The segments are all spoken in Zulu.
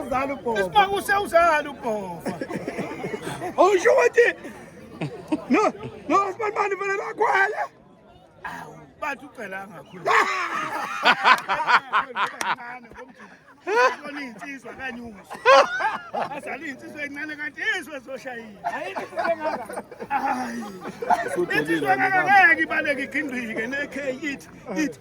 Uzala ubhova. Isibanga usewuzala ubhova. Awusho ukuthi no no sibanibani vele lakhwela. Awu bathi ucela angakhulu. Kona insizwa kanye uso. Azali insizwa encane kanti izwe zoshayile. Ayikho engaka. Hayi. Insizwa ngeke ibaleke igindike ne K it it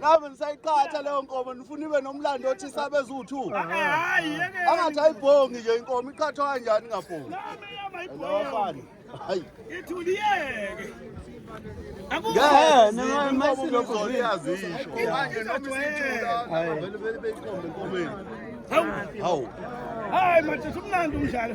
nami ngisayiqhatha leyo nkomo nifuna ibe nomlando othi isabe eziwu-two eh, eh, angathi ayibhongi nje inkomo iqhathwa kanjani ingabhongi hayi ithuliyeke hawu hayi madoda umnandi umdlalo